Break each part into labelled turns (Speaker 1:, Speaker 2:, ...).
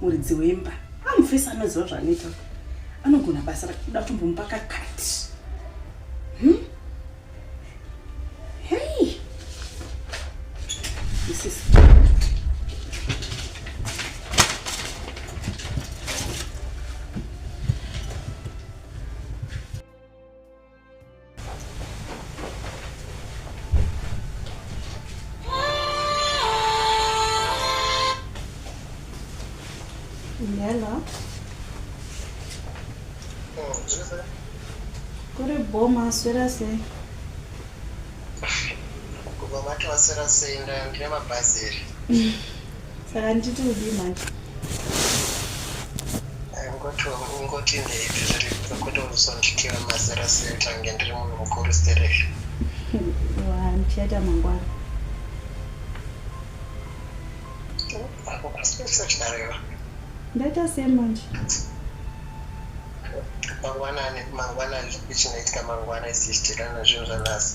Speaker 1: muridzi wemba amufesi anoziva zvaanoita anogona basa rakuda kutombomupa kakati hmm? hei isisi
Speaker 2: Hello. Kuri boma aswera sei?
Speaker 3: Kubva mati waswera sei ndine mabhazi here?
Speaker 2: Saka nditi udii manje?
Speaker 3: Ngoti ngoti ndeipi zviri kwekuti uzonditira mazera sei tange ndiri munhu mukuru sterezvo.
Speaker 2: Ndichaita mangwana.
Speaker 3: Ndaita
Speaker 2: sei manje?
Speaker 3: Mangwanani mangwanani chinoitika mangwana isichitirana zvinhu zvanhasi.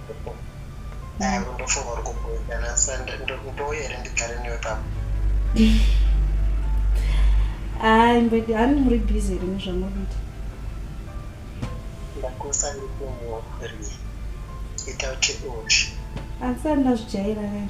Speaker 3: ndofunga uri kubuda nasa ndouya here ndigare newe papa
Speaker 2: hayi mbedi hani muri busy here nezvamuri kuita
Speaker 3: ndakusa ndikumorii ita kuti uchi asi
Speaker 2: andazvijaira kani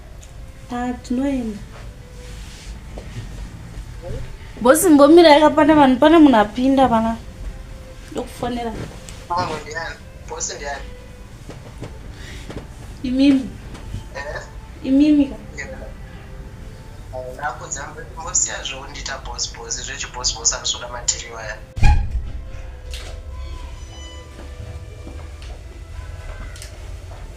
Speaker 3: patinoenda
Speaker 2: bosi mbomira yakapanda vanhu pane munhu apinda vana ndokufonera imimi
Speaker 3: eh? imimi ka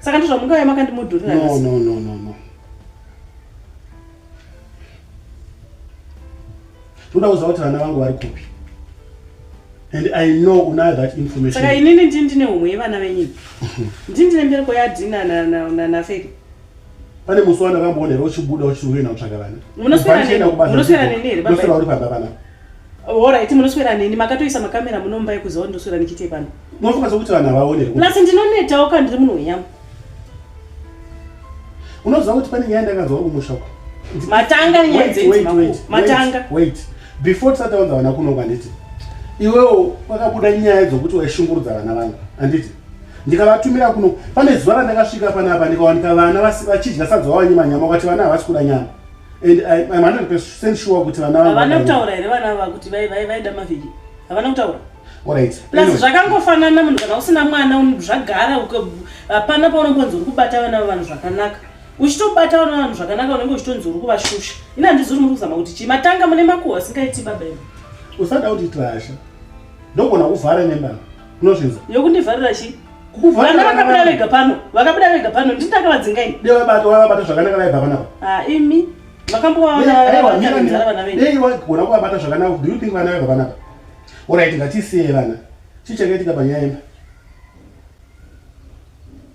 Speaker 4: saka
Speaker 1: ndozvamungave makandimudhurira no, no, no, no, no.
Speaker 4: ndoda kuziva kuti vana vangu vari kupi and i know unayo that information saka inini ndini ndine
Speaker 1: humwe yevana venyini ndini ndine mbereko yadina nafeke pane musi
Speaker 4: wanakamboona here uchibuda uchiuena kutsvaga vana munoswera
Speaker 1: neni here uri pamba panapa
Speaker 4: Alright,
Speaker 1: munoswera neni makatoisa makamera munomba yekuziva ndoswera ndichiite pano. Munofunga sokuti vanhu havaone.
Speaker 4: Plus ndinonetawo
Speaker 1: kana ndiri munhu wenyamu.
Speaker 4: Unoziva kuti pane nyaya ndakanzwa kumusha uko. Matanga nyaya
Speaker 1: dzenzi makuru. Matanga. Wait.
Speaker 4: Before tisati wanza vana kuno kwanditi. Iwewo wakabuda nyaya dzokuti waishungurudza vana vangu. Anditi. Ndikavatumira kuno. Pane zuva randakasvika panapa ndikawanika vana vachidya sadza wavanyima nyama kwati vana havasi kuda nyama. and I, I'm 100% sure kuti vana havana kutaura here vana ava
Speaker 1: kuti vaida mavhiki havana kutaura Right. Plus anyway.
Speaker 4: zvakangofanana
Speaker 1: munhu kana usina mwana zvagara hapana paunombonzi uri kubata vana vavanhu zvakanaka uchitobata vana vanhu zvakanaka unenge uchitonzi uri kuvashusha ini handizi uri muri kuzama kuti chii matanga mune makuhwa asingaiti baba imi usada kuti
Speaker 4: tirasha ndogona kuvhara nembana unozvinza yokundivharira
Speaker 1: chii vana vakabuda vega pano vakabuda vega pano ndini ndakavadzinga ini dei vabata vabata zvakanaka
Speaker 4: vaibva panapa ha imi
Speaker 1: vakambovaonadei wagona kuvabata
Speaker 4: zvakanaka do you think vana vaibva panapa orit ngatisiye vana chii chakaitika panyaya imba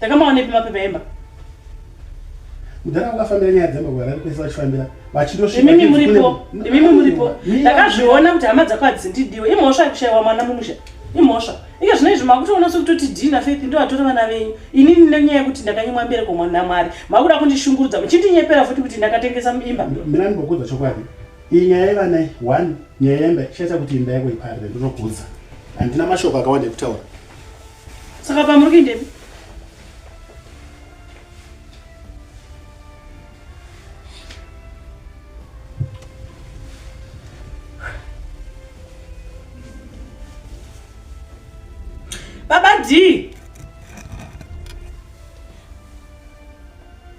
Speaker 1: Takamaonepi mapepa emba? Mudhara
Speaker 4: wakafambira nyaya dzemba kwa vari kwese vachifambira vachindosvika. Imimi muripo,
Speaker 1: imimi muripo. Ndakazviona kuti hama dzako hadzindidiwe. Imhosva yekushaiwa mwana mumusha. Imhosva. Inge zvino izvi makutoona sokutoti dhii naFaith ndo atora vana venyu. Inini nenyaya yekuti ndakanyimwa mbereko mwana Mwari. Makuda kundishungurudza muchindinyepera futi kuti ndakatengesa imba. Mina ndinokudza chokwadi.
Speaker 4: Iyi nyaya yevana iyi, one, nyaya yemba, shaita kuti imba yako iparire, ndinokudza. Handina mashoko akawanda ekutaura.
Speaker 1: Saka pamuri kuindepi? Baba D.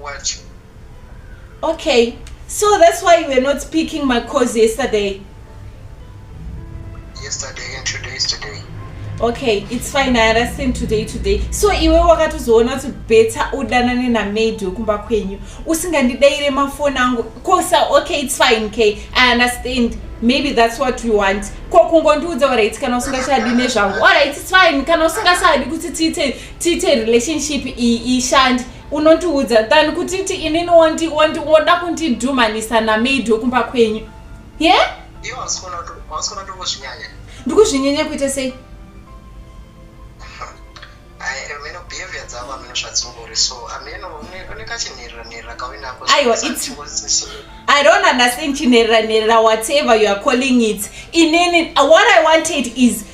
Speaker 3: What?
Speaker 2: Okay, so that's why you were not speaking my cause yesterday. Yesterday and today
Speaker 3: is today. Okay, it's
Speaker 2: fine. I understand today today. So iwe wakatozoona kuti better udanane na maid wekumba kwenyu usingandidaire mafoni angu kosa. Okay, it's fine. Okay, I understand. Maybe that's what we want. Ko kungondiudza alright kana usingachadi nezvangu. Alright, it's fine. Kana usingachadi kuti tiite tiite relationship iyi ishandi unondiudza than kutiti inini woda kundidhumanisa namaid wekumba kwenyu ye yeah?
Speaker 3: ndikuzvinyanya kuita sei
Speaker 2: i don't understand chinherera nherera whatever you are calling it inini what i wanted is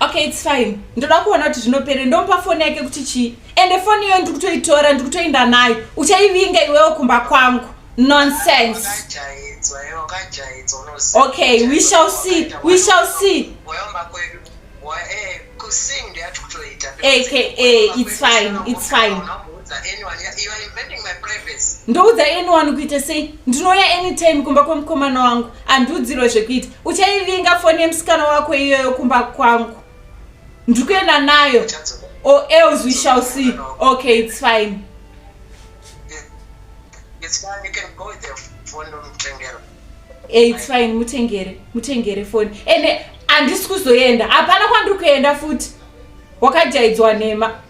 Speaker 3: okay its fine
Speaker 2: ndoda kuona kuti zvinopere ndomupa foni yake kuti chii ende foni iyoyo ndiri kutoitora ndiri kutoenda nayo uchaivinga iwewo kumba kwangu nonsense okay we shall see we shall see aka its fine
Speaker 3: its fine ndoudza anyone
Speaker 2: kuita sei ndinouya anytime kumba kwemukomana wangu andiudzirwe zvekuita uchaivinga foni yemusikana wako iyoyo kumba kwangu ndiri kuenda nayo or else we shall see okay it's fine it's fine you can go with the phone mutengere
Speaker 3: eh, it's
Speaker 2: fine mutengere mutengere phone ende handisi kuzoenda hapana kwandiri kuenda futi wakajaidzwa nhema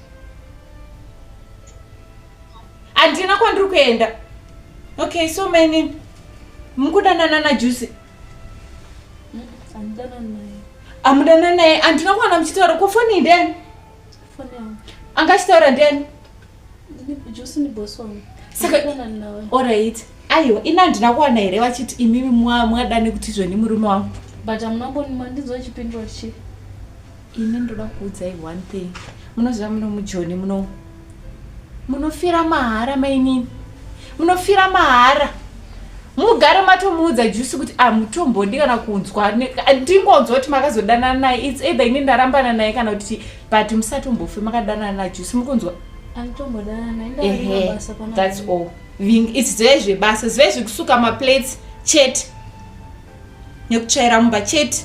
Speaker 2: handina kwandiri kuenda okay so mainini mukudanana najusi amudana naye handina kuwana muchitaura ko foni ndeni angachitaura ndeni orit aiwa ini handina kuwana here vachiti imimi mwadane kuti zveni murume wangu but amunambonima
Speaker 1: ndizochipindura chii ini
Speaker 2: ndoda kuudzai one thing munoziva muno mujoni muno munofira mahara mainini munofira mahara mugare matomuudza jusi kuti amutombondi ah, kana kunzwa ndingonzwa kuti makazodanana naye its either ini ndarambana naye kana kuti but musatombofe makadanana najusi mukunzwa
Speaker 1: thats all
Speaker 2: its zve zvebasa zve zvekusuka maplates chete nekutsvaira mumba chete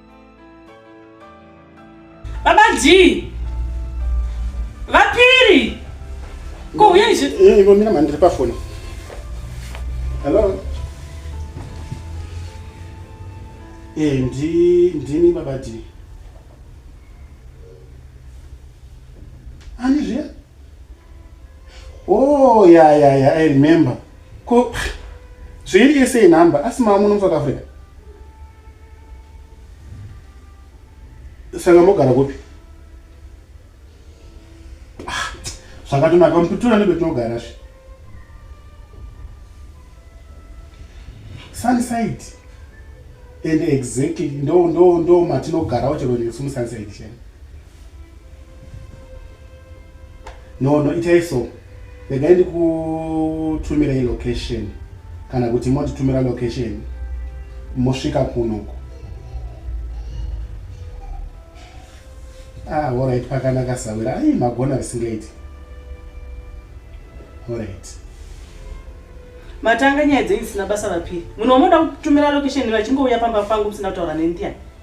Speaker 1: Baba G. Vapiri. Ko uya izvi. Eh, ivo mina mandiri pa phone.
Speaker 4: Hello. Eh, ndi ndini baba G. Ani zviya? Oh, yeah, yeah, yeah, I remember. Ko zviri yese inhamba asi mama muno mu South Africa. saka mogara kupi ah, zvakatonaka mupitura nebetinogara zve sunside and exactly ndo ndo ndo matinogara uchero nesu musunside chena no no itai so regai ndikutumirei location kana kuti motitumira location mosvika kunoko ah orit pakanaka sawira ai magona risingaiti orit matanga
Speaker 1: nyaya dzenyu dzisina basa vapiri munhu wamoda kutumira location vachingouya pamba pangu musina kutaura nendiani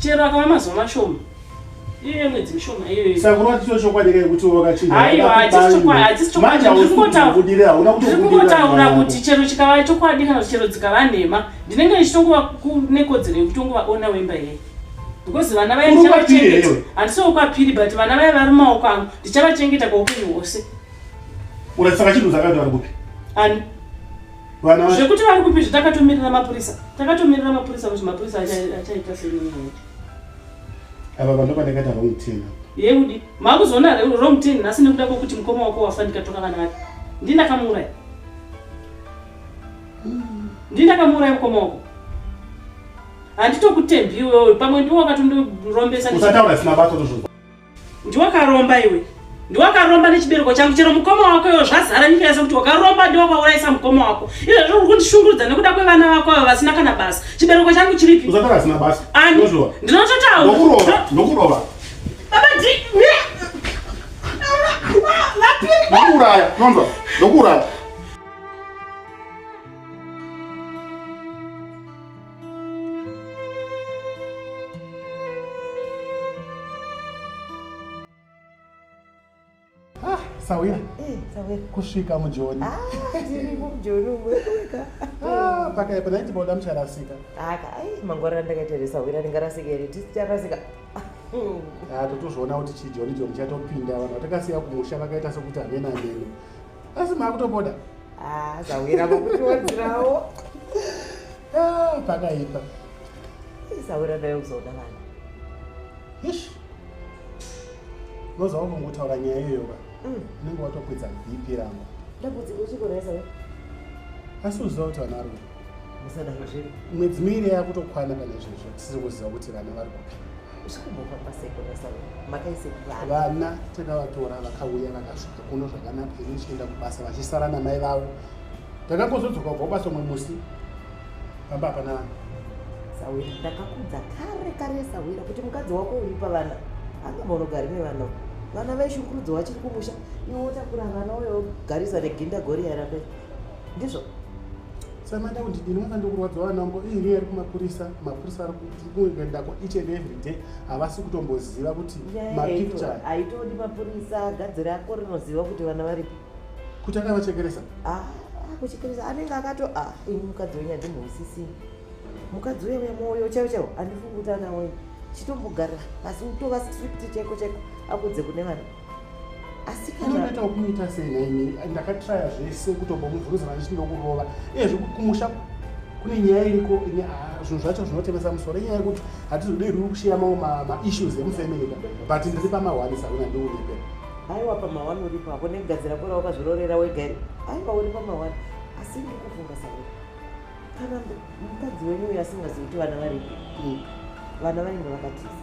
Speaker 4: chero
Speaker 1: akava mazuva mashoma iyoyo mwedzi mishoma iyoyo sakuru vati chiro chokwadi kai
Speaker 4: kuti wakachinja aiwa hatisi chokwadi
Speaker 1: hatisi chokwadi ndiri kungotaura kuti chero chikava chokwadi kana chero dzikava nhema ndinenge ndichitongova nekodzero yekutongovaona wemba yei because vana vaya ndichavachengeta handisi wokwapiri but vana vaya vari mumaoko angu ndichavachengeta kwaupenyu hwose uratisa
Speaker 4: kachinhu zakati vari kupi ani
Speaker 1: zvekuti vari kupi zvatakatomira mapurisa takatomira mapurisa kuti mapurisa achaita senyaya
Speaker 4: ava vanhu vanengati wrong ten yeudi
Speaker 1: makuzoona wrong ten nhasi nekuda kwekuti mukoma wako wafa ndikatoka vana vake ndini ndakamuuraya ndini ndakamuuraya mukoma wako handitokutembi iwewe pamwe ndiwo wakatondirombesa usataura zvisina basa
Speaker 4: tozvozwa Ndiwakaromba
Speaker 1: iwe. Ndiwakaromba nechibereko changu chero mukoma wako iwe zvazara nyika yese kuti wakaromba ndiwe wakaurayisa mukoma wako. Izvo zviri kundishungurudza nekuda kwevana vako ava vasina kana basa. Chibereko changu chiripi? Usatara asina basa.
Speaker 4: Ani. Ndinototaura. Ndokurova.
Speaker 1: Ndokurova.
Speaker 4: Baba ndi
Speaker 1: Ndokuraya.
Speaker 4: Nonzwa. Ndokuraya. sawira eh,
Speaker 5: kusvika mujoni
Speaker 4: ah,
Speaker 5: ah, pakaipa
Speaker 4: nai tiboda mucharasika mangwarira
Speaker 5: ndakaita here sawira ndingarasika here tisicharasika
Speaker 4: ah, totozviona kuti chijoni joni chatopinda vanhu vatakasiya kumusha vakaita sekuti hamena mene asi maakutopoda ah, zahwira
Speaker 5: vakutiwadzirawo ah,
Speaker 4: pakaipa
Speaker 5: zahwira ndayo kuzoda vana
Speaker 4: ish unoziva kungotaura nyaya iyoyoka mm. unenge watokwidza bp rangu ndambudziko chikoresa asi uziva kuti vanhu vari
Speaker 5: mwedzi miiri
Speaker 4: yakutokwana pane zvezvo tisiri kuziva kuti vana vari kupi
Speaker 5: vana takavatora
Speaker 4: vakauya vakasvika kuno zvakanaka ini chienda kubasa vachisara namai vavo takangozodzoka kubva kubasa umwe musi pamba hapana vana sawira
Speaker 5: ndakakudza kare kare sawira kuti mukadzi wako uri pavana angambaunogari nevana vana vaishungurudzo vachiri kumusha iwo takura vana uyo garisa reginda gori yarape ndizvo
Speaker 4: samanda kuti ndini mwana ndikurwadza vana vangu iyi nyaya iri kumapurisa mapurisa ari kuenda kwa each and every day havasi kutomboziva kuti mapicture haitodi mapurisa
Speaker 5: gadzi rako rinoziva kuti vana varipi kuti akavachekeresa
Speaker 4: ah, ah, kuchekeresa
Speaker 5: anenge akato ah, ini mukadzi wenyu handimbousisi mukadzi uya uya mwoyo chaiwo chaiwo handifungi kuti anawoyo chitombogara pasi utova strict chaiko chaiko akudze kune vana asikanoita kumuita
Speaker 4: sei naini ndakatraya zvese kutobomuvhunza vandichiti ndokurova ezvi kumusha kune nyaya iriko ine ah, zvinhu zvacho zvinotevesa musoro inyaya yekuti hatizodei ruri kushiya mamwe maissues emufamily ka but ndiri pamahwani sauna ndiuripe aiwa pamahwani
Speaker 5: uripo apo negadzira kora wakazvirorera wega aiwa uri pamahwani asi ndikufunga sauna kana mukadzi wenyu uyo asingazivi kuti vana vari kuika vana vanenge vakatiza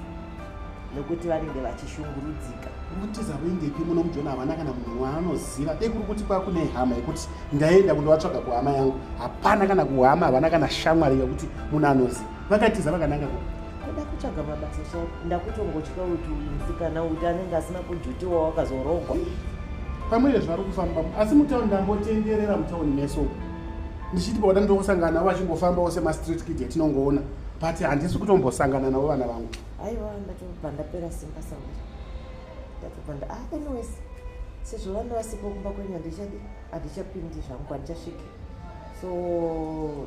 Speaker 5: nokuti vanenge vachishungurudzika kutiza
Speaker 4: kuingepi muno mujona havana kana munhu waanoziva dei kuri kuti kwakune hama yekuti ndaenda kundovatsvaga kuhama yangu hapana kana kuhama havana kana shamwari yekuti munhu anozi vakatiza vakananga ku kuda kutsvaga
Speaker 5: mabasa so ndakutongotya kuti musikana uti anenge asina kujutiwa wakazorogwa pamwe
Speaker 4: zvavari kufamba asi mutauni ndambotenderera mutauni meso ndichiti pauda ndongosangana navo vachingofambawo semastreet kid yatinongoona but handisi kutombosangana navo vana vangu aiwa ndatobva
Speaker 5: ndapera simba sauri ndatobva nda ah, anyways sezvo vana vasipo kumba kwenyu handichadi handichapindi zvangu handichasviki so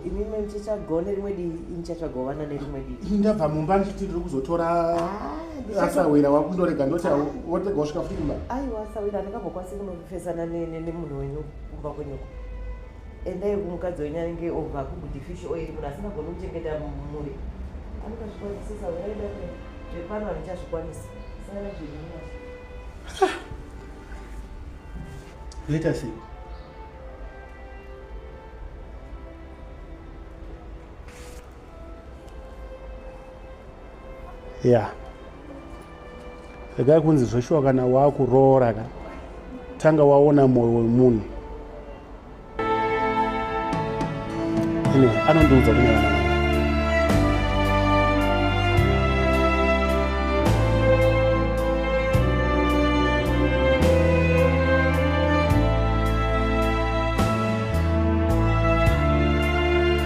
Speaker 5: imimi ndichatsvagawo nerimwe dii inichatsvagawo vana nerimwe dii ndabva mumba ndichiti ndiri
Speaker 4: kuzotora ah, asawira wakundorega ndoti ah. wotega wasvika futi kumba aiwa asawira handikambokwanisi
Speaker 5: kunofesana nemunhu wenyu kumba kwenyuko endai kumukadzi wenyu anenge obva kuguti fish oil munhu asingagoni kuchengeta mumuri anokazvikwanisisa uyaida zvepano handichazvikwanisa sangana zvinaa
Speaker 4: Let us see. ya yeah. regai kunzi zveshuwa kana waakuroora ka tanga waona mwoyo wemunhu anyway anondiudza kune vana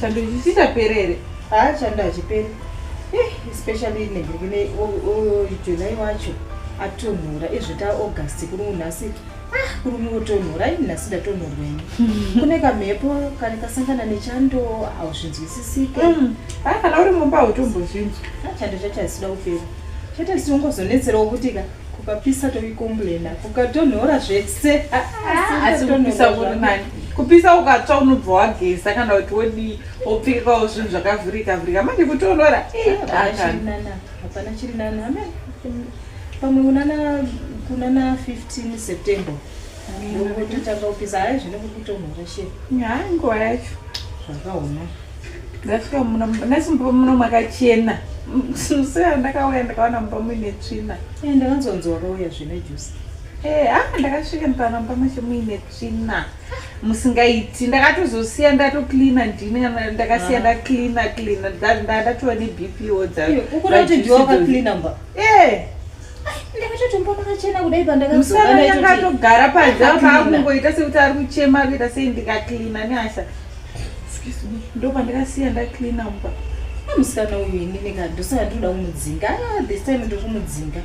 Speaker 2: Chando chisita perere. Ah, chando
Speaker 1: achipere. Eh, especially nenge kune July wacho atonhora ezvita August kuri unhasi. Ah, kuri mutonhora ini nhasi ndatonhorwa ini. Kune kamhepo kari kasangana nechando hauzvinzwisisike. Mm. Ah, kana
Speaker 2: uri mumba hautombozvinzwa. Ah, chando chachasida
Speaker 1: kupera. Chete siungozonetserawo kutika. Kupapisa tokikomblena kukatonhora zvese asi
Speaker 2: kupisa kuri nani kupisa ukatsva unobva wageza kana kuti wodii wopfekawo zvinhu zvakavhurika vhurika manje kutonhora
Speaker 1: hapana chiri nani ame pamwe unana kunana 15 september ndokutotanga kupisa hayi zvine kukutonhora she hayi nguva yacho
Speaker 2: zvakaoma
Speaker 1: ndasvika
Speaker 2: muna nasi mumba muno makachena musea ndakauya ndakawana mumba muine tsvina eh, ndakanzonzi wakauya
Speaker 1: zvine jusi eh, ah, ndakasvika
Speaker 2: ndikawana mumba macho muine tsvina musingaiti ndakatozosiya ndatoklina ndini ndakasiya ah. ndaklina klina ndatova nebpo dzakuti
Speaker 1: ndiwakaklina mba eh, ndakatogara
Speaker 2: panze paakungoita sekuti ari kuchema kuita sei ndikaklina nehasha ndopandakasiya ndaklina mba amusana uyu
Speaker 1: ini nekadosaka ndinoda kumudzinga ah, this time ndokumudzinga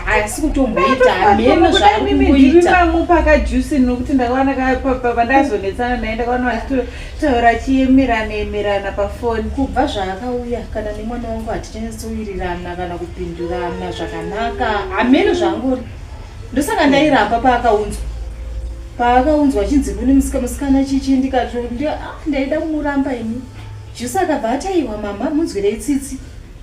Speaker 1: asi kutomboita hameno zvaari kungoita
Speaker 2: pakajusini nokuti ndakawana pandazonetsana naye ndakawana vachitore Taura achiemerana emerana pafoni. Kubva zvaakauya
Speaker 1: kana nemwana wangu hatichanyasowirirana kana kupindurana zvakanaka. Hameno zvangori. Ndosaka ndairamba paakaunzwa. Paakaunzwa chinzi kune musika musikana chichi ndikati ah, ndaida kumuramba ini. Jusi akabva ataiwa mama munzwirei tsitsi.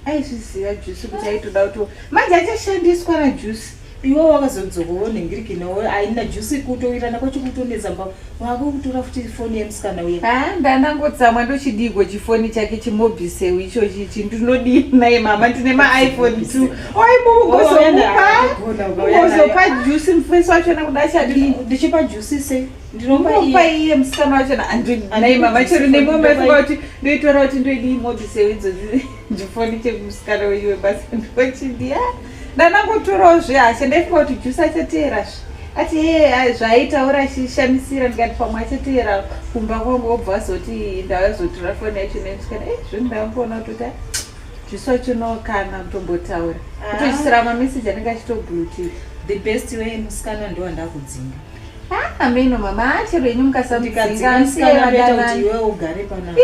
Speaker 1: Aizviziva
Speaker 2: Jusi kuti aitoda kuti manje achashandiswa naJusi. iwo wakazodzoka
Speaker 1: wonhingiriki nawo aina jusi kutoirana kwacho kutonetsa mba wako kutora futi foni yemusikana uya ha ndanangotsamwa
Speaker 2: ndochidigo chifoni chake chimobiseu ichochi chi ndinodii naye mama ndine maiphone t oibozopa jusi mufesi wachona kuda chadii ndichipa jusi
Speaker 1: sei ndinopa iye
Speaker 2: musikana wachona andinaye mama chero nemwe maifunga kuti ndoitora kuti ndoidii mobiseu idzozi chifoni chemusikana wenyu webasa ndochidia ndanangotorawo zve hasha ndaifunga kuti jusa achateera zve ati hee zvaaitaura achishamisira ndikati pamwe achateera kumba kwangu obva azoti ndavazotora foni yacho nendikati e zvinhu ndavangoona kutoti jusa chinokana kutombotaura ah. kutochisira mameseji anenge achitobluti the best
Speaker 1: way musikana ndiwo ndakudzinga ah, ameno
Speaker 2: mama achero yenyu mukasamudzinga
Speaker 1: iwe ugare panaa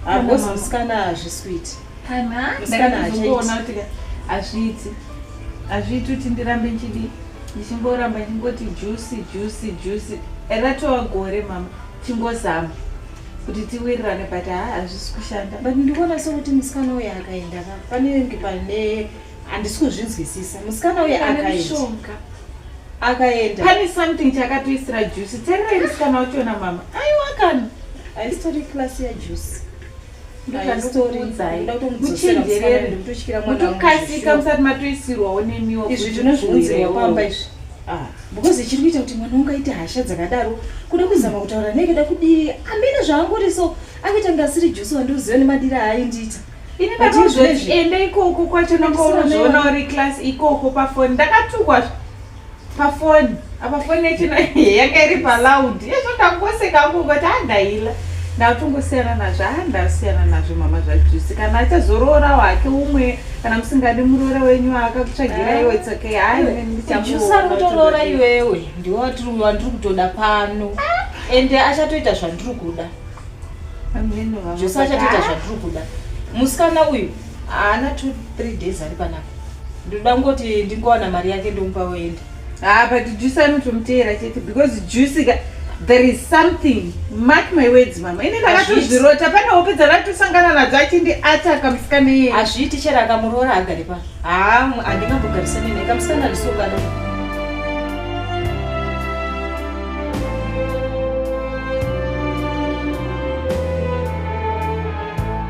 Speaker 1: hakosi musikana hazviswiti hazviiti
Speaker 2: hazviiti kuti ndirambe ndichidii ndichingoramba ndichingoti jusi jusi jusi ratova gore mama chingozama kuti tiwirirane but ha hazvisi kushanda but ndikuona sokuti
Speaker 1: musikana uyo akaenda ka panenge pane handisi kuzvinzwisisa musikana uyo akaenda akaenda pane something
Speaker 2: chakatoisira jusi tererai musikana wachona mama aiwakani haisitori
Speaker 1: class yajusi
Speaker 2: muchikasika musati matoisirwawo nemiwo izvi tinozviunzirwa
Speaker 1: pamba izvi ah. because chiri kuita kuti mwana wangu aite hasha dzakadaro kuda kuzama kutaura naye kuda kudii ambine zvaangori so akuita kunge asiri jusi wandiuziva nemadiri aaindiita ini ndakazoti
Speaker 2: ende ikoko kwacho nakaonozviona uri class ikoko pafoni ndakatukwa pafoni apa foni yachino yanga iri paloud yezvo ndakoseka angu kuti andaila ndakutongosiyana nazvo a ndasiyana nazvo mama zvajusi kana achazoroora wake umwe kana musingadi muroora wenyu akakutsvagira ah. iwe tsoke haaiusakutoroora
Speaker 1: iwewe ndiwe wandiri kutoda pano ah. ende achatoita zvandiri kuda zvose achatoita zvandiri kuda musikana uyu haana two three days ari panapa ndinoda kungoti ndingowana mari yake ndomupa woenda ah but juice
Speaker 2: anotomuteera chete because juice ka there is something mark my words mama ini ndakatozvirota pane hope dzandatosangana nadzo achindi ata kamusikana iye hazviiti chero akamuroora
Speaker 1: agari pa haa ah, handingambogarisani naye kamusikana ndisokana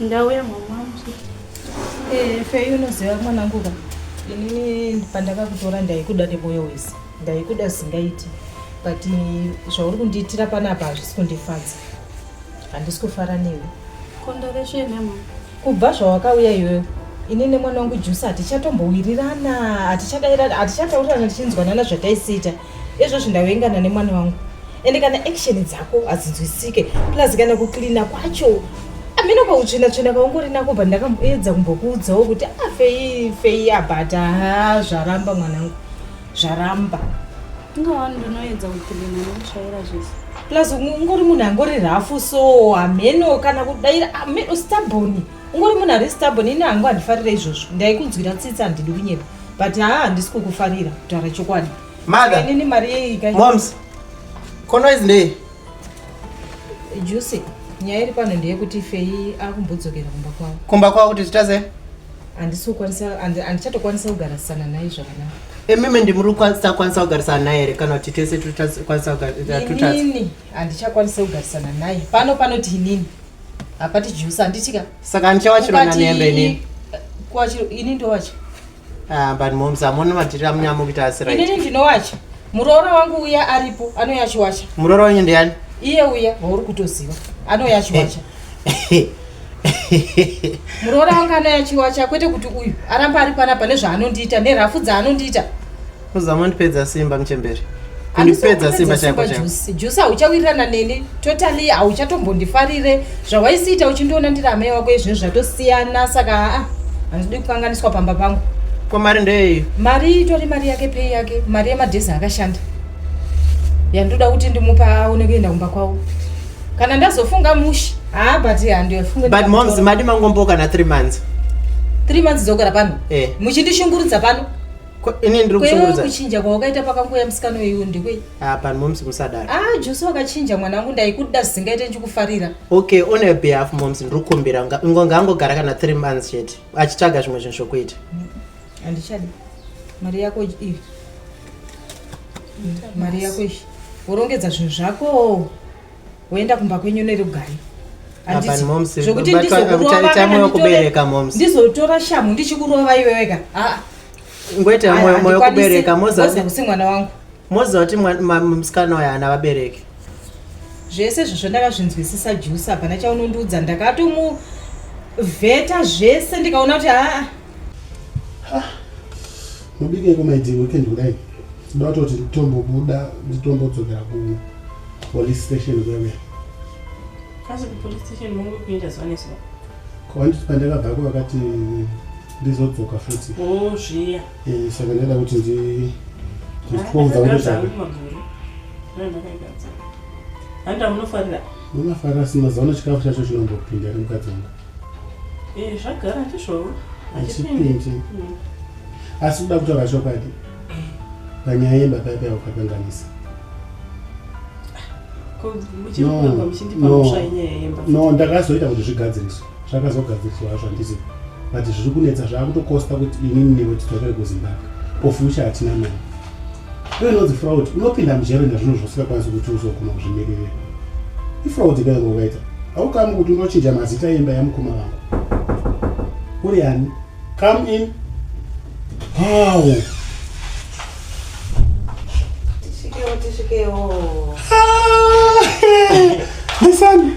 Speaker 6: ndauya mama eh,
Speaker 1: fei unoziva mwanangu ka inini pandakakutora ndaikuda nemoyo wese ndaikuda singaiti but zvauri kundiitira panapa hazvisi kundifadza handisi kufara newe kondoreshenema
Speaker 6: kubva zvawakauya
Speaker 1: iyoyo ini nemwana wangu jusi hatichatombowirirana hatichadairirana hatichataurana tichinzwanana zvataisiita Izvozvi ndavengana nemwana wangu ende kana action dzako hadzinzwisike plus kana kucleana kwacho amene kwautsvina tsvina kaungori nako bva ndakaedza kumbokuudzawo kuti afei ah, fei abhata ha zvaramba mwanangu zvaramba ingawani
Speaker 6: ndinoedza kucleana nekushayira zvese plus ungori
Speaker 1: munhu angori rafu so hameno kana kudaira ameno staboni ah, ungori munhu ari stabon ini hangu handifarira izvozvo ndaikunzwira tsitsi handidi kunyepa but haa handisi kukufarira kutaura chokwadi mainini mari
Speaker 7: yeikamoms konoizi ndei juse
Speaker 1: nyaya iri pano ndeyekuti fei akumbodzokera kumba kwavo kumba kwavo kuti zvitasei
Speaker 7: handisi kukwanisa
Speaker 1: handichatokwanisa kugarisana naye zvakanaka emime ndimuri
Speaker 7: kusakwanisa kugarisana naye here kana kuti tese tutakwanisa kugarisana inini
Speaker 1: handichakwanisa kugarisana naye pano panoti inini hapati juice handiti ka saka ndichawachirwa
Speaker 7: nanembe ini kwachiro ini
Speaker 1: ndowacha ah but
Speaker 7: moms amoni matiri amunyamo kuita asi right ini ndinowacha
Speaker 1: muroora wangu uya aripo anouya achiwacha muroora wenyu ndiyani
Speaker 7: iye uya wauri
Speaker 1: kutoziva anouya achiwacha muroora wangu anouya achiwacha kwete kuti uyu aramba ari panapa nezvaanondiita
Speaker 7: nerafu
Speaker 1: dzaanondiita Kuzama kundipedza simba
Speaker 7: mchembere.
Speaker 1: Kundipedza
Speaker 7: simba chako chako. Juice hauchawirirana
Speaker 2: neni totally hauchatombondifarire zvawaisiita uchindiona ndiri amai wako izvi zvatosiyana saka haa handidi kukanganiswa pamba pangu. Ko mari ndeyei?
Speaker 7: Mari itori mari
Speaker 2: yake pei yake mari yemadhezi akashanda yandoda kuti ndimupa aone kuenda kumba kwavo kana ndazofunga mushi haa but handifunge but moms madi
Speaker 7: mangomboka na three months three months
Speaker 2: dzokera pano eh. muchindishungurudza pano ini ndiri
Speaker 7: kushungurudza kuchinja kwawakaita pakanguya
Speaker 2: musikana uyu ndikwe ah pan moms musadaro
Speaker 7: ah Jose wakachinja
Speaker 2: mwana wangu ndaikuda zvisingaite ndichikufarira okay on your
Speaker 7: behalf moms ndiri kukumbira ngo ngangogara kana 3 months chete achitsvaga zvimwe zvinhu zvokuita handichadi
Speaker 2: mari yako iyi mari yako iyi worongedza zvinhu zvako woenda kumba kwenyu nerugare zvokuti ndizokurovaandizotora shamu ndichikurova iweweka aa
Speaker 7: ngoite moyo kubereka mozakusi mwana
Speaker 2: wangu moziva kuti
Speaker 7: musikana uyo haana vabereki zvese
Speaker 2: zvozvo ndakazvinzwisisa jusa hapana chaunondiudza ndakatomuvheta zvese ndikaona kuti haa
Speaker 4: mubike kumaiti weekend kudai tinoda kutoti nditombobuda nditombodzokera kupolice station kweve asi
Speaker 1: kupolice station munge kuenda zuva nezuva kwanditi
Speaker 4: pandakabvako vakati ndizodzoka futi oh,
Speaker 1: zviya eh, saka ndaida
Speaker 4: kuti nditwouza handamunofarira
Speaker 1: munofarira sina
Speaker 4: zaona chikafu chacho chinombopinda nemukadzi wangu Eh,
Speaker 1: zvagara ndizvowo hachipindi
Speaker 4: mm. asi kuda kutaura chokwadi panyaya yebaba ipa yaukakanganisa no ndakazoita kuti zvigadziriswa zvakazogadziriswa hazvo handizivi but zviri kunetsa zvaakutokosta kuti inini newe titokere kuzimbabwe ofucha hatina mari Iyo inonzi fraud, unopinda mujere nezvinhu zvausingakwanisi kuti uzoguma kuzvimiririra. Ifraud idayo ngokaita. Haukamu kuti unochinja mazita yemba yamukoma vangu. Uri ani? Come in. Wow. Tishikewo,
Speaker 5: tishikewo.
Speaker 4: Listen.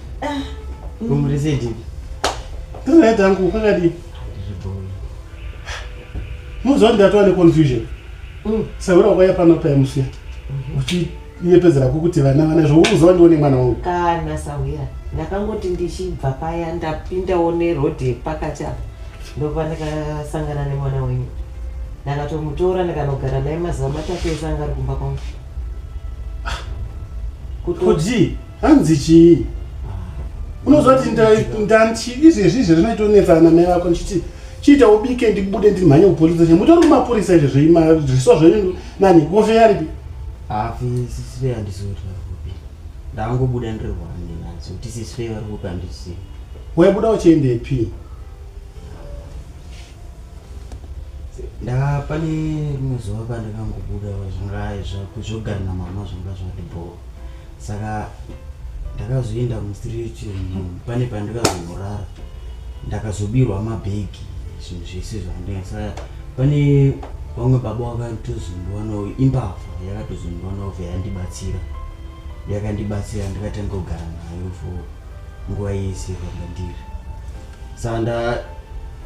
Speaker 7: Ah. Boom reset.
Speaker 4: Tuna tangu kakadi. Muzo ndatwa ne confusion. Mm. Saura kwaya pano pa MC. Mhm. Uchi iye pedzera kukuti vana vana zvo uzo ndione mwana wangu. Kana sawira.
Speaker 5: Ndakangoti ndichibva paya ndapinda one road yepakati apa. Ndokuva ndakasangana nemwana wenyu. Ndakatomutora ndikanogara naye mazuva matatu ese anga ari kumba kwangu.
Speaker 4: Ah. Kuti hanzi chii unozoti ndanti izvezvi izvezvi zvinoitonetsa ana mai vako ndichiti chiita ubike ndibude ndimhanye kupolisa che mutori kumapurisa izvezvo zviso zvenyu nani gofe yaripi hafi
Speaker 8: sisve handizoti varikupi ndavangobuda ndirwane nadzo kuti sisve varikupi handisi waibuda
Speaker 4: uchiendepi
Speaker 8: ndaa pane rimwe zuva pandakangobuda zvinga zvogarina mama zvanga zvati bhoo saka ndakazoenda mustreet pane pandikazomurara ndakazobirwa mabhegi zvinhu zvese zvandinga saka pane vamwe baba vakatozondiwanawo imbavha yakatozondiwanawo vhe yandibatsira yakandibatsira ndikatanga kugara nayo for nguva yese kwandandiri saka nda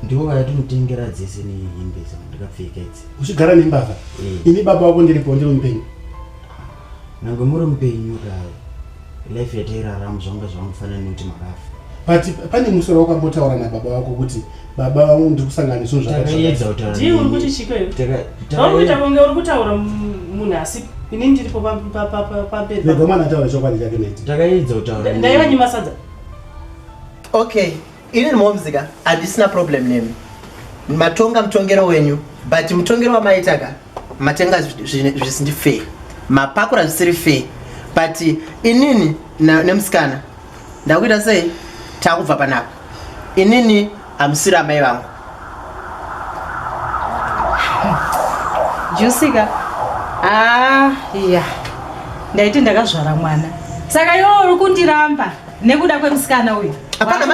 Speaker 8: ndivo vayatinotengera dzese nehembe dzandikapfeka idzi uchigara nembavha
Speaker 4: eh. ini baba wako ndiripo ndiri mupenyu
Speaker 8: Nyange muri mupenyu kare. Life yatairarama zvanga zvamufanira nekuti makafa. But pane musoro
Speaker 4: wakambotaura na baba vako kuti baba vangu ndiri kusangana zvinhu zvakaiedza kutaura. Ndiye
Speaker 8: uri kuti chiko iwe.
Speaker 1: Takaita kuita kunge uri kutaura munhu asi ini ndiripo pabed. Ndogomana taura
Speaker 4: chokwadi chake neti. Takaedza kutaura. Ndaiva
Speaker 8: nyima sadza.
Speaker 7: Okay. Ini momzika handisina problem nemi. Matonga mutongero wenyu but mutongero wamaitaka matenga zvisindi fair. Mapakura zvisiri fair. But inini nemusikana ndakuita sei takubva panapa. Inini hamusiri amai vangu.
Speaker 1: Jusika. Ah, yeah. Ndaiti ndakazvara mwana. Saka iwe uri kundiramba. nekuda kwemusikana uyu hapana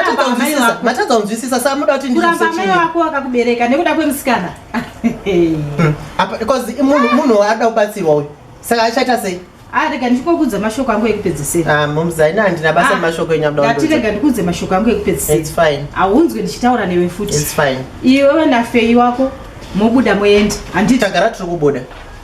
Speaker 7: matadza kunzwisisa sa muda kuti kuramba mai wako
Speaker 1: wakakubereka nekuda kwemusikana
Speaker 7: because munhu waada kubatsirwa uyu saka achaita sei arega ah, ndikokudza
Speaker 1: mashoko angu ekupedzisira ah, momzaina handina basa
Speaker 7: ah, mashoko enyakudatirega ndikudze mashoko
Speaker 1: angu ekupedzisira haunzwe
Speaker 7: ndichitaura
Speaker 1: newe futi iwe
Speaker 7: wenafeyi
Speaker 1: wako mobuda moenda handitagara tiri kubuda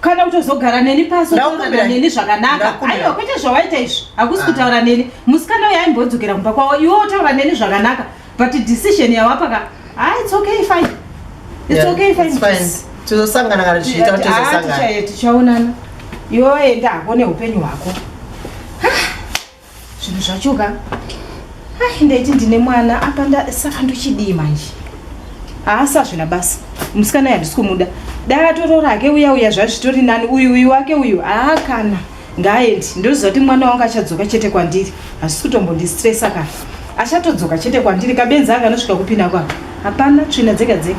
Speaker 1: kana kutozogara neni pasi otaura neni zvakanaka aiwa kwete zvawaita izvi hakusi ah. kutaura neni musikana uyo aimbodzokera kumba kwavo iwe otaura neni zvakanaka but decision yawapaka ah it's okay fine it's okay fine, fine. tizosangana
Speaker 7: kana tichiita kuti ah, tizosangana tichaonana
Speaker 1: iwe waenda hako neupenyu hwako zvinhu zvacho ka ai ndaiti ndine mwana apa ndasaka ndochidii manje haasi azvina basa musikana yandisi kumuda dai atoro rake uya uya zvazvitori nani uyu uyu wake uyu haa kana ngaaendi ndoziva kuti mwana wangu achadzoka chete kwandiri hazvisi kutombondistresa ka achatodzoka chete kwandiri kabenzi anga anosvika kupinda kwako hapana tsvina dzega dzega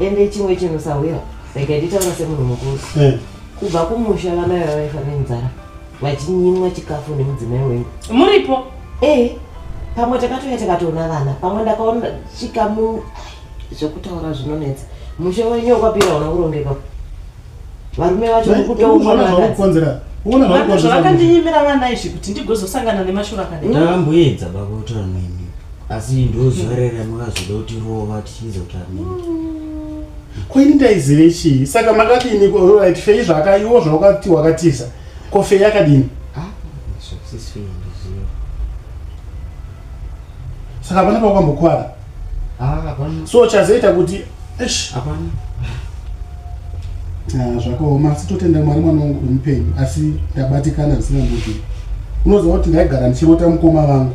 Speaker 1: ende
Speaker 5: chimwe chinhu sahwira ndikaititaura semunhu mukuru eh. kubva kumusha vana vava vaifa nenzara vachinyimwa chikafu nemudzimai wenyu muripo
Speaker 1: ee
Speaker 5: pamwe takatouya tikatoona vana pamwe ndakaona chikamu zvekutaura zvinonetsa musha wenyu wakwapira una kurongeka varume vacho vekutoonzera
Speaker 1: zvavakandinyimira vana izvi kuti ndigozosangana nemashura akadai ndamboedza bakutaura
Speaker 8: nemi asi ndozuva rere makazoda kuti rova tichiedza kutaura nemi mm. kwaini
Speaker 4: ndaizive chii saka makadini right fei zvakaiwo zvawakati wakatiza ko fei yakadini
Speaker 8: ah,
Speaker 4: saka pana pakwambokwara Ah,
Speaker 8: so chazoita kuti
Speaker 4: esh hapana ah, zvakaoma asi totenda mwari mwana wangu kumupenyu asi ndabatikana zvisina mbudii unoziva kuti ndaigara ndichirota mukoma vangu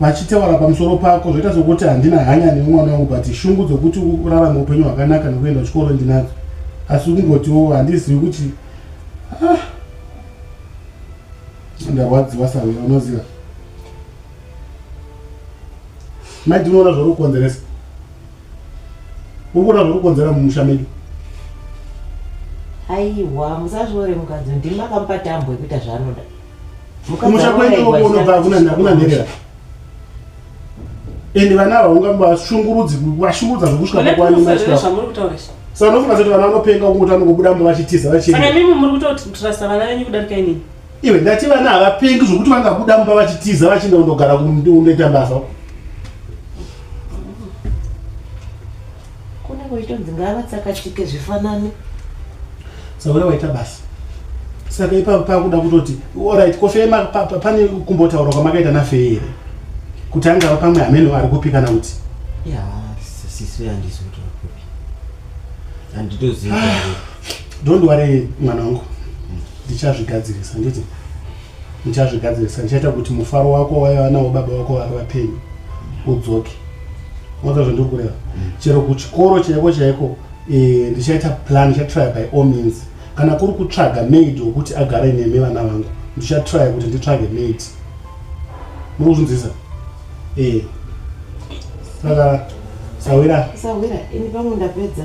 Speaker 4: vachitaura pamusoro pako zvoita sokuti handina hanya nemwana wangu but shungu dzokuti urarama upenyu hwakanaka nokuenda kuchikoro ndinadzo asi kungotiwo handizivi kuti ah, ndarwadziwa sawe unoziva maiti unoona zvauri kukonzeresa uri kuona zvauri kukonzera mumusha medu
Speaker 5: aiwa musazviore mukadzi ndimi akamupa tambo yekuita zvaanoda kumusha
Speaker 4: kwedu unobva hakuna nherera ende vana ava ungambashungurudzi vashungurudza zvekusvika pakwanimaasanofuna sati vana vanopenga kunguti vanokubuda mba vachitiza vachimimi muri kutotrasa
Speaker 1: vana venyu kudarika inini iwe ndati vana
Speaker 4: havapengi zvokuti vangabuda mumba vachitiza vachienda kundogara kunoita basa
Speaker 5: kune kwaitonzi ngavatsakatike zvifanane
Speaker 4: saura waita basa saka ipa pakuda kutoti orit kofee pane kumbotaura kwamakaita nafee here kuti angava pamwe hameno ari kupi kana kuti ya
Speaker 8: sisi andisi kuti ari kupi handitoziva ah.
Speaker 4: don't worry mwana wangu ndichazvigadzirisa nditi ndichazvigadzirisa ndichaita kuti mufaro wako waiva nawo baba wako vari vapenyu udzoke unonzwa zvandiri kureva mm. chero kuchikoro chaiko chaiko eh, ndichaita plan ndichatrya by all means kana kuri kutsvaga maid wokuti agare nemi vana vangu ndichatrya kuti nditsvage maid muri kuzvinzisa ee eh. saka
Speaker 5: sawira
Speaker 4: sawira ini pamwe
Speaker 5: ndapedza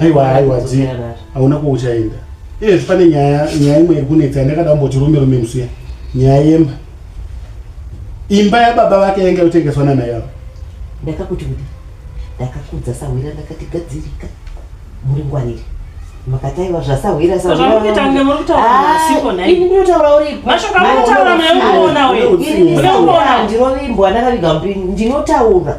Speaker 4: aiwa aiwa dzi hauna kwauchaenda iye zvipane nyaya nyaya imwe iri kunetsa yandakada kumboti rume rume msuya nyaya yemba imba yababa vake yainge yotengeswa namai avo ndakakuti kuti
Speaker 5: ndakakudza sahwira ndakati gadzirika muri ngwarire makataiwa zvasahwira
Speaker 1: sahwirandinotaura ndakaviga
Speaker 5: mupini ndinotaura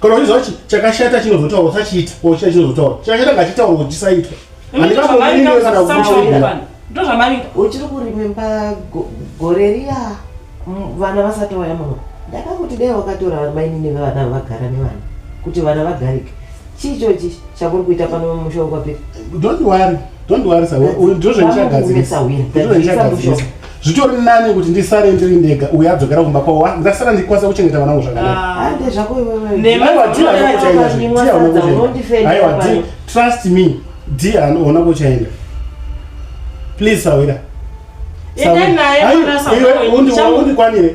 Speaker 4: kana uchiziva kuti chakashata chinozotaura usachiita or chiya chinozotaura chakashata ngachitaura kuti chisaitwa
Speaker 1: uchiri kurimemba
Speaker 5: gore riya vana vasati vaya muno ndakakuti dai wakatora mainini vevana vagara nevana kuti vana vagarike chii chochi chakuri kuita pano musha wekwapiri
Speaker 4: ndozvaichagadzirisa zvitori nani kuti ndisare ndiri ndega uye adzokera kumba kwavo ah, ndasara ndikwanisa kuchengeta vana vangu
Speaker 5: zvakanakaaiwa
Speaker 4: trust me di anoona kuchaenda please sawira
Speaker 1: undikwanire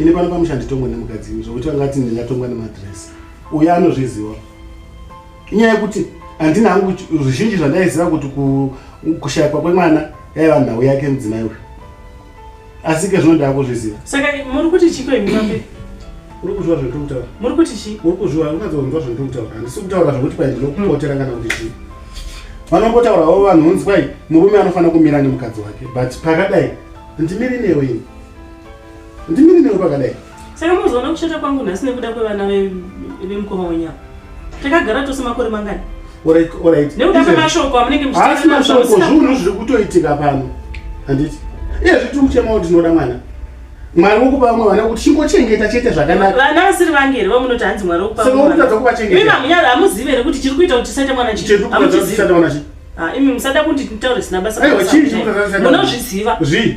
Speaker 4: ini pano pamusha nditongwa nemukadzi imi zvokuti vanga vati ndingatongwa nemadress uyo anozviziva inyaya yekuti handina hangu zvizhinji zvandaiziva kuti kushayikwa kwemwana yaiva nhau yake mudzimai uyu asi ke zvino ndava kuzviziva saka muri kuti
Speaker 1: chiko imi vape uri kuzviwa
Speaker 4: zvandiri kutaura muri kuti chii uri
Speaker 1: kuzviwa ungadzonzwa
Speaker 4: zvandiri kutaura handisi kutaura zvokuti pai ndinokupotera kana kuti chii vanombotaurawo vanhu unzwai murume anofanira kumira nemukadzi wake but pakadai ndimiri newe ini ndimiri nekupakadai saka muzoona kushata
Speaker 1: kwangu nhasi nekuda kwevana vemukoma wenyu ava takagara tose makore mangani
Speaker 4: nekuda kwemashoko
Speaker 1: amunenge muchasi mashoko zviunhu
Speaker 4: zviri kutoitika pano handiti iye zviti muchema wo tinoda mwana mwari wokupa vamwe vana kuti chingochengeta chete zvakanaka vana vasiri vange here
Speaker 1: vamunoti hanzi mwari wokupasakutadza kuvachengeta
Speaker 4: hamunyari hamuzive here
Speaker 1: kuti chiri kuita kuti tisaite mwana chiamuchizive
Speaker 4: imi musada
Speaker 1: kunditaure zina basa munozviziva
Speaker 4: zvii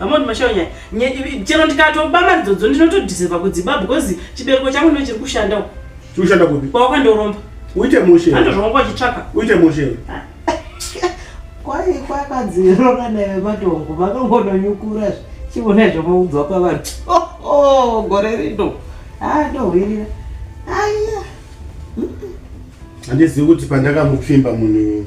Speaker 1: vamoni mashawo nyaya chero ndikatoba mari dzodzo ndinotodhiserwa kudziba because chibereko changu ndo chiri kushanda uko chiri kushanda kupi
Speaker 4: kwawakandoromba
Speaker 1: uite mushe
Speaker 4: andozvonga kwachitsvaka
Speaker 1: uite mushe
Speaker 4: kwai
Speaker 5: kwakadziro kana vematongo vakangononyukura zve chivona zvamaudzwa pavanhu oh, oh, gore rino haa ah, ndohwirira aiya
Speaker 4: handizivi kuti pandakamupfimba munhu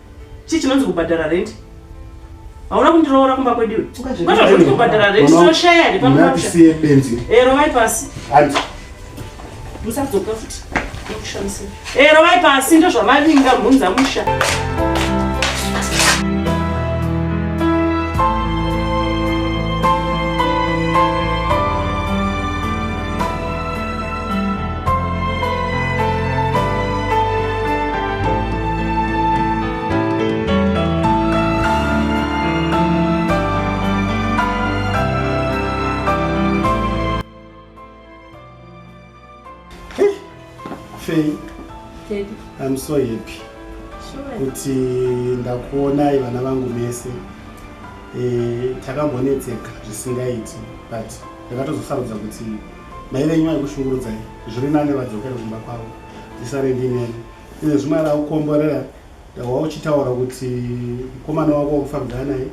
Speaker 1: Chii chinonzi kubhadhara rent? Hauna kundiroora kumba kwedu iwe. Kwazvo zviri kubhadhara rent tinoshaya here pano papi? Siye benzi. Eh rovai pasi. Hanzi. Musadzoka futi. Mukushamisa. Eh rovai pasi ndozvamavinga mhunza musha.
Speaker 4: Faye, I'm so happy kuti ndakuonai vana vangu mese e, takambonetseka zvisingaiti but ndakatozosarudza kuti mai venyu vaikushungurudzai zviri nane vadzokere kumba kwavo tisare ndineni ine zvimwe ara kukomborera ndawa uchitaura kuti mukomana wako wakufambira naye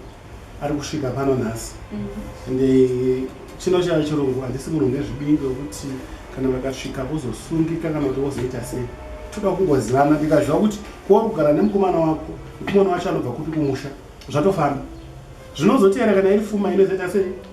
Speaker 4: ari kusvika pano nhasi mhm. ende chino chava chirungu handisi munhu nezvibingi wekuti kana vakasvika vozosungika kana kuti vozoita sei toda kungozivana ndikaziva kuti kuwa kugara nemukomana wako mukomana wacho anobva kupi kumusha zvatofamba zvinozoteera kana iri fuma inozoita sei